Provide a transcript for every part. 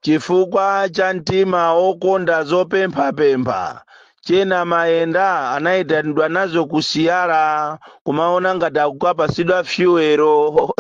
Chifukwa cha mtima wokonda zopemphapempha, Che Namaenda anaitanidwa nazo ku siyala kumaona ngati akukapatsidwa fyuwelo.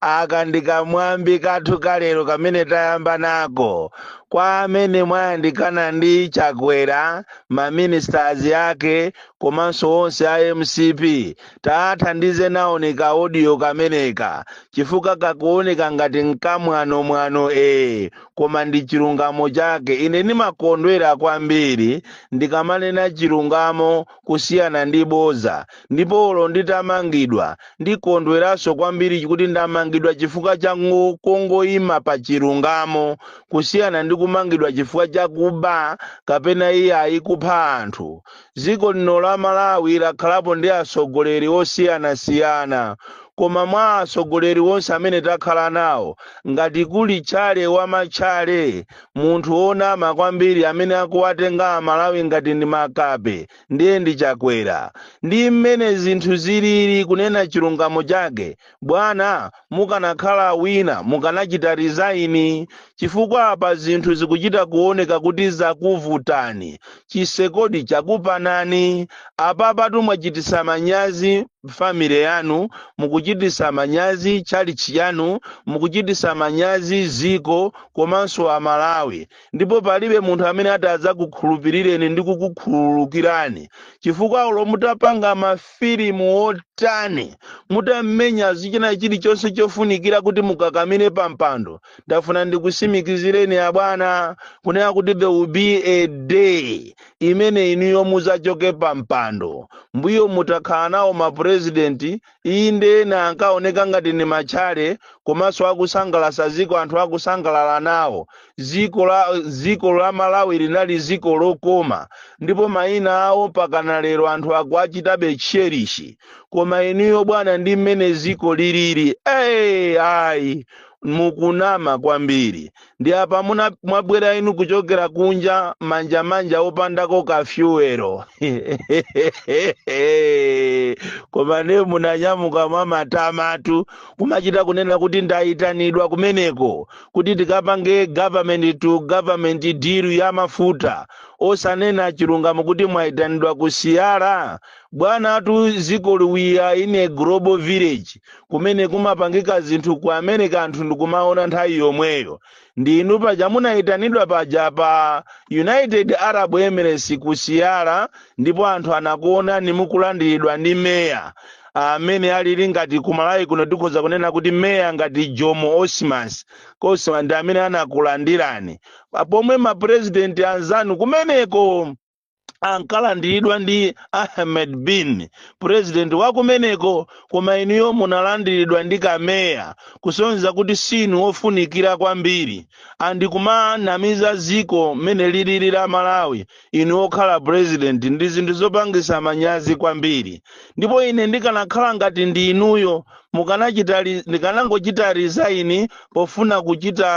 Aka ndi kamwambi kathu kalero kamene tayamba nako. Kwa amene mwayandikana ndi Chakwera, maministers ake komanso onse a mcp, Taathandize naoni ka audio kameneka chifukwa kakuoneka ngati nkamwanomwano ee koma ndi chilungamo chake. Ine ndimakondwera kwambiri ndikamanena chilungamo kusiyana ndi bodza ndipo olo nditamangidwa ndikondweranso kwambiri kuti ndamangidwa chifukwa cha ngo- kungoima pa chilungamo kusiyana ndi kumangidwa chifukwa cha kuba kapena iyayi kupha anthu. Dziko lino la Malawi lakhalapo ndi atsogoleri osiyanasiyana koma mwa atsogoleri onse amene takhala nawo, ngati kuli tchale wa matchale, munthu wonama kwambiri amene akuwatenga Amalawi ngati ndi makape, ndiye ndi Chakwera. Ndi mmene zinthu zilili, kunena chilungamo chake, Bwana, mukanakhala wina mukanachita resign chifukwa apa zinthu zikuchita kuoneka kuti zakuvutani, chitsekodi chakupanani, apapatu mwachititsa manyazi family yanu, mukuchititsa manyazi tchalitchi yanu, mukuchititsa manyazi dziko komanso a Malawi. ndipo palibe munthu amene ati adzakukhulupirireni ndi kukukhululukirani chifukwa olo mutapanga mafilimu otani mutamenya zichina chilichonse chofunikira kuti mukakamire pa mpando ndafuna ndikusimikizireni abwana kunena kuti there will be a day imene inuyo muzachoke pa mpando mbuyomu takhala nawo mapurezidenti inde ena ankaoneka ngati ndi matchale komanso akusangalatsa dziko anthu akusangalala nawo dziko la malawi linali dziko lokoma ndipo mayina awo pakana lero anthu akuachitabe cherish koma inuyo bwana ndi mmene dziko lilili ee ayi mukunama kwambiri ndi apa muna- mwabwera inu kuchokera kunja manja manja opandako kafyuwero koma ne munanyamuka mwa matamatu kumachita kunena kuti ndayitanidwa kumeneko kuti tikapange government to government deal ya mafuta osanena chilungamo kuti mwayitanidwa ku siyala bwana tu dzikoli we are in a global village kumene kumapangika zinthu ku america anthu ndikumaona nthawi yomweyo ndi inu paja munayitanidwa paja pa united arab emirates ku siyara ndipo anthu anakuonani mukulandiridwa ndi meya amene alili ngati kumalawi kuno tikhoza kunena kuti meya ngati jomo osmas osman ndi amene anakulandirani pomwe mapurezidenti anzanu kumeneko ankalandiridwa ndi ahmed bin purezidenti wakumeneko koma inuyo munalandiridwa ndi kameya kusonyeza kuti sinu wofunikira kwambiri andi kumanamiza ziko mmene lilili la malawi inu okhala purezidenti ndi zinthu zopangisa manyazi kwambiri ndipo ine ndikanakhala ngati ndi inuyo ndikanangochita resign pofuna kuchita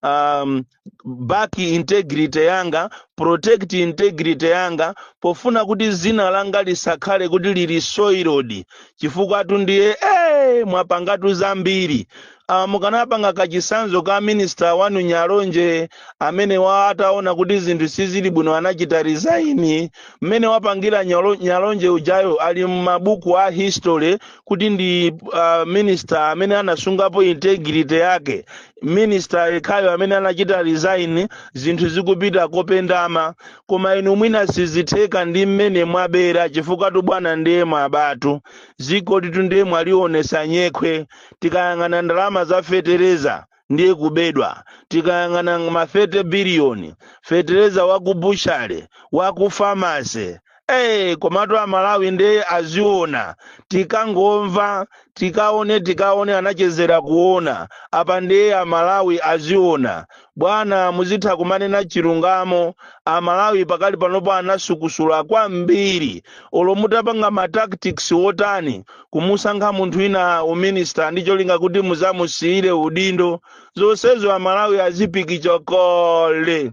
um, back integrity yanga protect integrity yanga pofuna kuti zina langa lisakhale kuti lili soiled chifukwatu ndiye eh mwapangatu zambiri Ah, mukanapanga kachisanzo ka minister wanu nyalonje amene wa ataona kuti zinthu sizili bwino anachita resign mmene wapangira nyalonje ujayo ali m'mabuku a history kuti ndi uh, minister amene anasungapo integrity yake minista yekhayo amene anachita resign zinthu zikupita kopendama koma inu mwina sizitheka ndi mmene mwabera chifukwatu bwana ndiye mwabatu zikolitu ndiye mwalionesa nyekhwe tikayang'ana ndalama za fetereza ndiye kubedwa tikayang'ana ma 30 biliyoni fetereza wakubutchale wakufamase Hey, komatu amalawi ndiye aziona tikangomva tikaone tikaone anachezera kuona apa ndiye amalawi aziona bwana muzitha kumanena chilungamo amalawi pakali panopa anasukusula kwambiri olo mutapanga ma tactics wotani kumusankha munthu wina uminista ndi cholinga kuti muzamusiyire udindo zonsezo amalawi azipikicha kale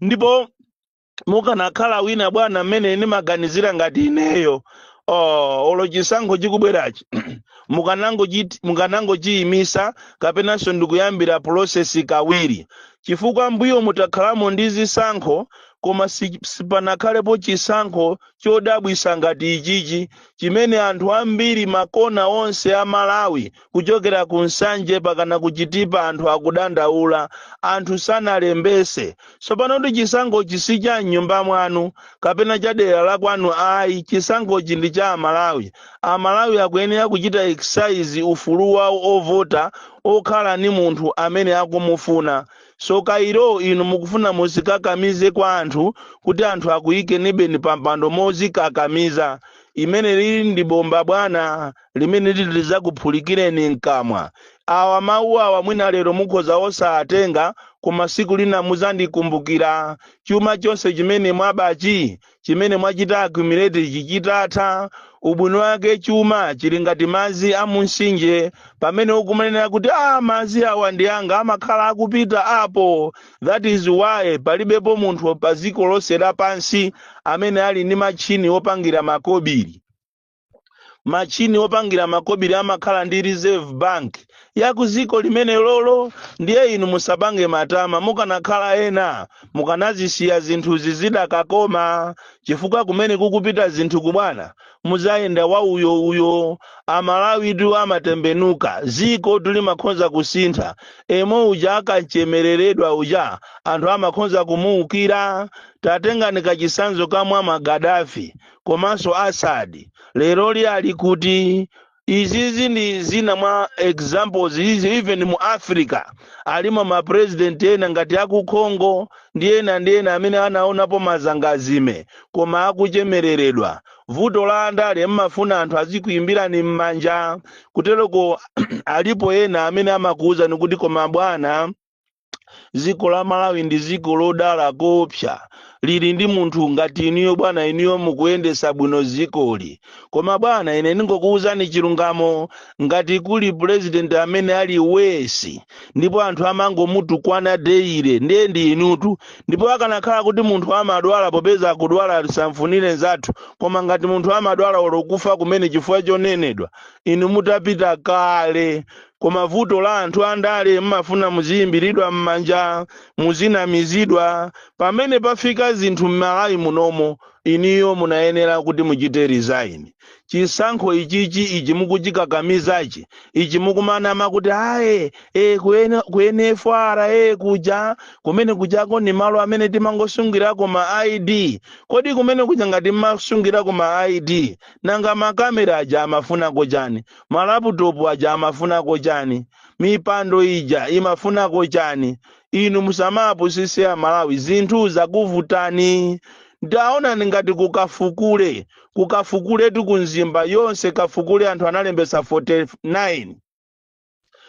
ndipo mukanakhala wina bwana mmene ndimaganizira ngati ineyo olo chisankho chikubwerachi mukanangochiyimisa kapenanso ndikuyambira pulosesi kawiri chifukwa mbuyomu takhalamo ndi zisankho koma sipanakhalepo chisankho chodabwisa ngati ichichi chimene anthu ambiri makona onse a malawi kuchokera ku nsanje pakana ku chitipa anthu akudandaula anthu sanalembese tsopano kuti chisankhochi si cha mnyumba mwanu kapena cha dera la kwanu ayi chisankhochi ndi cha amalawi amalawi akuyenera kuchita exercise ufulu wawo ovota okhala ni munthu amene akumufuna so kairo inu mukufuna muzikakamize kwa anthu kuti anthu akuyikenibeni pampando mozikakamiza limenelili ndi bomba bwana limene liti lidzakuphulikireni mkamwa awa mawu awa mwina lero mukhoza osatenga koma siku lina muzandikumbukira chuma chonse chimene mwabachi chimene mwachita accumulate chichitatha ubwino wake chuma chili ngati madzi a munsinje pamene ukumanena kuti a madzi awa ndi anga amakhala akupita apo that is why palibepo munthu pa dziko lonse lapansi amene ali ndi matchini opangira makobiri machini opangira makobiri amakhala ndi reserve bank ya ku dziko limenelolo ndiye inu musapange matama mukanakhala ena mukanazisiya zinthuzi zidakakoma chifukwa kumene kukupita zinthuku bwana muzayenda wa uyo uyo amalawitu amatembenuka zikotu limakhonza kusintha yemwe uja akachemereredwa uja anthu amakhonza kumuukira tatengani kachisanzo ka muammar gaddafi komanso Assad leroli ali kuti izizi ndi zina mwa examples izi even mu africa alimo ma president ena ngati aku congo ndi ena ndi ena amene anaonapo mazangazime koma akuchemereredwa vuto la andale mmafuna anthu azikuyimbirani m'manja kutereko alipo ena amene amakuwuzani kuti koma bwana dziko la malawi ndi dziko lodala koopsa lili ndi munthu ngati inuyo bwana inuyo mukuyendesa bwino dzikoli koma bwana ine ndingokuwuzani chilungamo ngati kuli purezidenti amene ali worst ndipo anthu amangomutukwana daily ndiye ndi inutu ndipo akanakhala kuti munthu amadwala popeza akudwala tisamfunire nzathu koma ngati munthu amadwala olo kufa kumene chifukwa chonenedwa inu mutapita kale koma vuto la anthu andale mmafuna muziyimbiridwa mmanja muzinamizidwa pamene pafika zinthu mmalawi munomo inuyo munayenera kuti muchite resign chisankho ichichi ichi mukuchikakamizachi ichi mukumanama kuti ayi e, ku ene- ku NFRA e, kuja kumene kujako ni malo amene timangosungirako ma id kodi kumene kuja ngati mmasungirako ma id nanga makamera aja amafunako chani Ma laptop aja amafunako chani? Mipando ija imafunako chani? Inu musamawapusise a Malawi zinthu zakuvutani. Ndaona ndi ngati ku Kafukule, ku Kafukuletu ku Mzimba yonse Kafukule anthu analembetsa 49.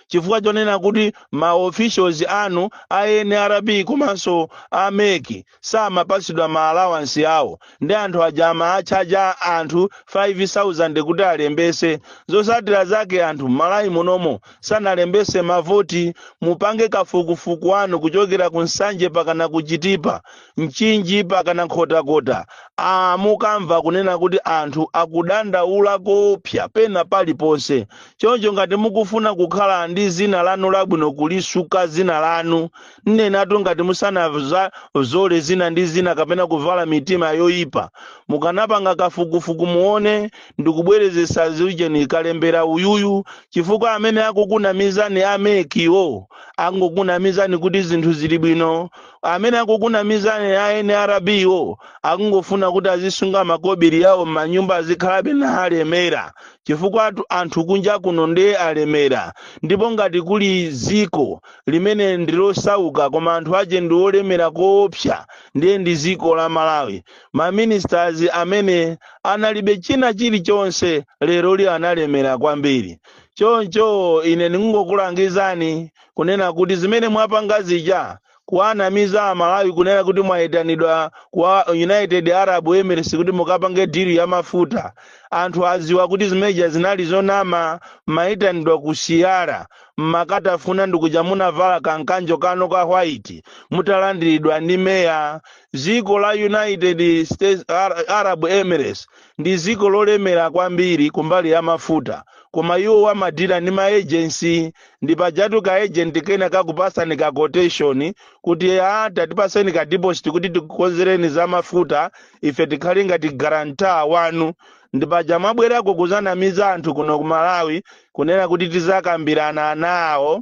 Chifukwa chonena kuti ma officials anu a nrb komanso a mec samapatsidwa ma allowance awo nde anthu aja amawatchaja anthu 5000 kuti alembese zosatira zake anthu mmalawi munomo sanalembese mavoti mupange kafukufuku wanu kuchokera ku nsanje pakana ku chitipa mchinji pakana nkhotakota aa mukamva kunena kuti anthu akudandaula koopsa pena paliponse choncho ngati mukufuna kukhala ndi zina lanu labwino kulisuka zina lanu nnenatu ngati musanazole zina ndi zina kapena kuvala mitima yoyipa mukanapanga kafukufuku muone ndikubwerezesa zujeni kalembera uyuyu chifukwa amene akukunamizani amekiwo angokunamizani kuti zinthu zili bwino amene akukunamizani a nrb wo akungofuna kuti azisunga makobiri yawo m'manyumba azikhalabe na alemera chifukwa anthu kunja kuno ndiye alemera ndipo ngati kuli ziko limene ndi losauka koma anthu ache ndi olemera koopsa ndiye ndi ziko la malawi maministers amene analibe china chilichonse leroli analemera kwambiri choncho ine ndingokulangizani kunena kuti zimene mwapanga zija kuwanamiza amalawi kunena kuti mwayitanidwa kwa united arab emirates kuti mukapange dili ya mafuta anthu aziwa kuti zimeja zinali zonama mayitanidwa ku siyara mmakatafuna ndikuja munavala ka nkanjo kanu ka white mutalandiridwa ndi meya ziko la united states arab emirates ndi ziko lolemera kwambiri kumbali ya mafuta koma iwo amadila ndi maejensi ndi pajatu ka agent kena kakupasani ka quotation kuti atatipaseni ka deposit kuti tikukonzereni za mafuta ife tikhale ngati guarantor wanu ndi paja mwabwerako kuzanamiza anthu kuno ku malawi kunena kuti tizakambirana nawo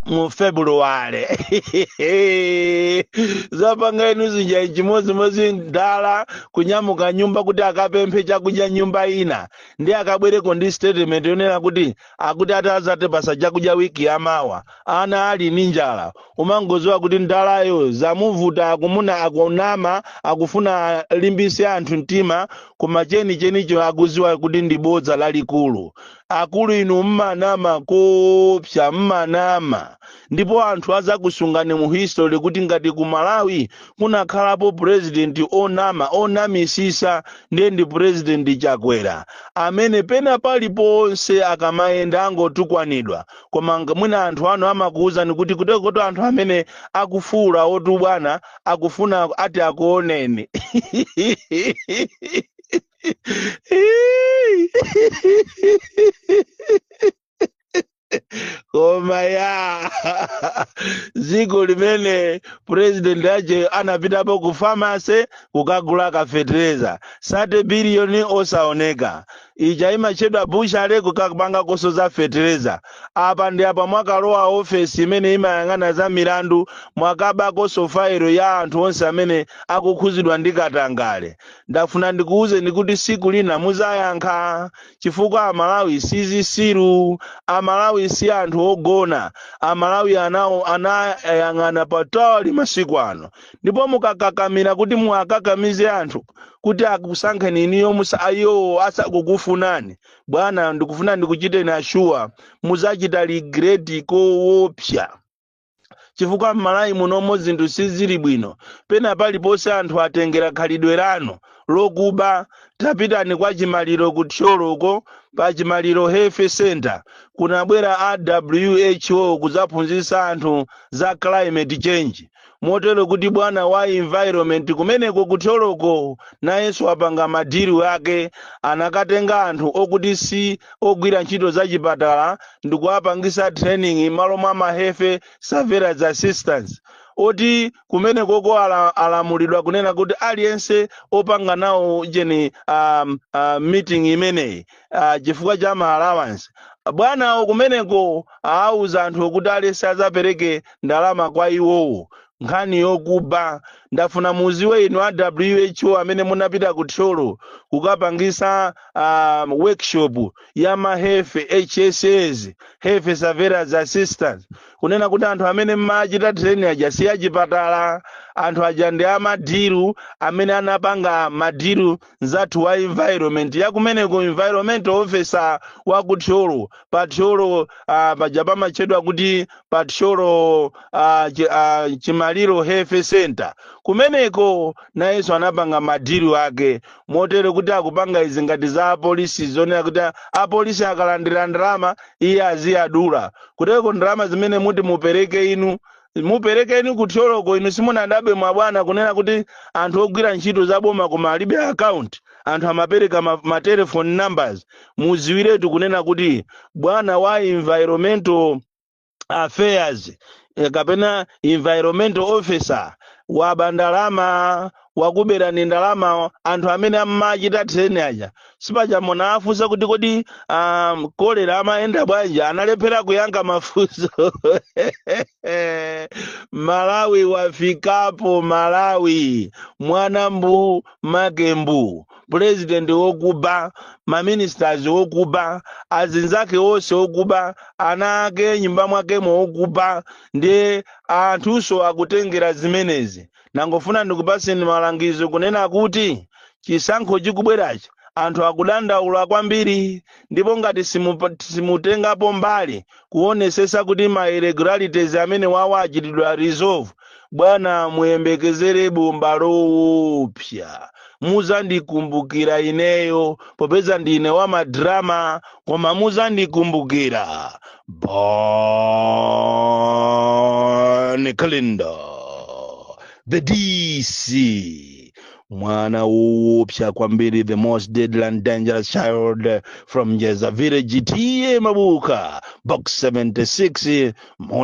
mu february zapanga inu zili nga chimodzimodzi mdala kunyamuka nyumba kuti akapemphe chakudya nyumba ina ndi akabwereko ndi statement yonena kuti akuti atazatipasa chakudya wiki yamawa ana ali ndi njala umangoziwa kuti ndalayo zamuvuta akumuna akunama akufuna alimbise anthu mtima koma cheni chenicho akuziwa kuti ndi bodza lalikulu akulu inu mmanama kopsa mmanama ndipo anthu azakusungani mu history kuti ngati ku malawi kunakhalapo president onama onamisisa ndiye ndi president chakwera amene pena paliponse akamayenda angotukwanidwa koma nga- mwina anthu anu amakuwuzani kuti kutekotu anthu amene akufuwula oti ubwana akufuna ati akuoneni koma ya dziko limene purezidenti ache anapitapo ku famase kukagula fetereza sate biliyoni osaoneka ija imatchedwa bucha ile kukapanga konso za fetereza apa ndi apa mwakalowa ofesi imene imayang'ana za milandu mwakabanso fairo ya anthu onse amene akukhuzidwa ndi katangale ndafuna ndikuwuzeni kuti siku lina muzayankha chifukwa amalawi sizisiru amalawi si anthu ogona amalawi anayang'ana patali masiku ano ndipo mukakakamira kuti muwakakamize anthu kuti akusankheni inuyo musa iwowo asakukufunani bwana ndikufuna ndikuchiteni assure muzachita regret kowopsa chifukwa m'malawi munomo zinthu sizili bwino pena paliponse anthu atengera khalidwe lanu lokuba tapitani kwa chimaliro ku thyolo uko pa chimaliro health center kunabwera a who kudzaphunzitsa anthu za climate change motero kuti bwana wa environment kumeneko ku thyoloko nayenso wapanga madiri ake anakatenga anthu okuti si ogwira ntchito za chipatala ndikuwapangisa training malo mwa ma health surveillance assistants oti kumenekoko ala, alamulidwa kunena kuti aliyense opanga nawo jeni um, uh, meeting imeneyi ah, chifukwa cha ma allowance bwanawo kumeneko awuza anthu okuti aliyense azapereke ndalama kwa iwowo nkhani yokuba ndafuna muziwe inu a who amene munapita ku thyolo kukapangisa um, workshop ya ma health hss health surveillance assistants kunena kuti anthu amene mmachita training aja si achipatala anthu aja ndi amadiru amene anapanga madiru mzathu wa environment yakumeneko environment officer wa ku thyolo pa thyolo uh, paja pamatchedwa kuti pa thyolo uh, chi, uh, chimaliro health center kumeneko nayenso anapanga madiru ake motero kuti akupanga izi ngati za apolisi zonena kuti a- apolisi akalandira ndalama iye aziyadula kuteko ndalama zimene muti mupereke inu muperekeni ku thyoloko inu simunadabwe bwana kunena kuti anthu ogwira ntchito za boma koma alibe account anthu amapereka ma, ma telephone numbers muziwiretu kunena kuti bwana wa environmental affairs eh, kapena environmental officer waba ndalama wakuberani ndalama anthu amene amachita training aja sipaja munafunsa kuti kodi um, kolera amayenda bwanji analephera kuyankha mafunso malawi wafikapo malawi mwana mbu make mbu pulezidenti wokuba maministers wokuba azinzake onse wokuba ana ake nyumba mwakemo wokuba ndiye anthunso akutengera zimenezi Nangofuna ndikupatseni malangizo kunena kuti chisankho chikubwerachi anthu akudandaula kwambiri ndipo ngati simupa- simutengapo mbali kuonesesa kuti ma irregularities amenewawa achitidwa resolve bwana muyembekezere bomba lowopsa muzandikumbukira ineyo popeza ndine wa madrama koma muzandikumbukira bon kalindo the dc mwana woopsa kwambiri the most deadly and dangerous child from njeza village TA mabuka box 76 mula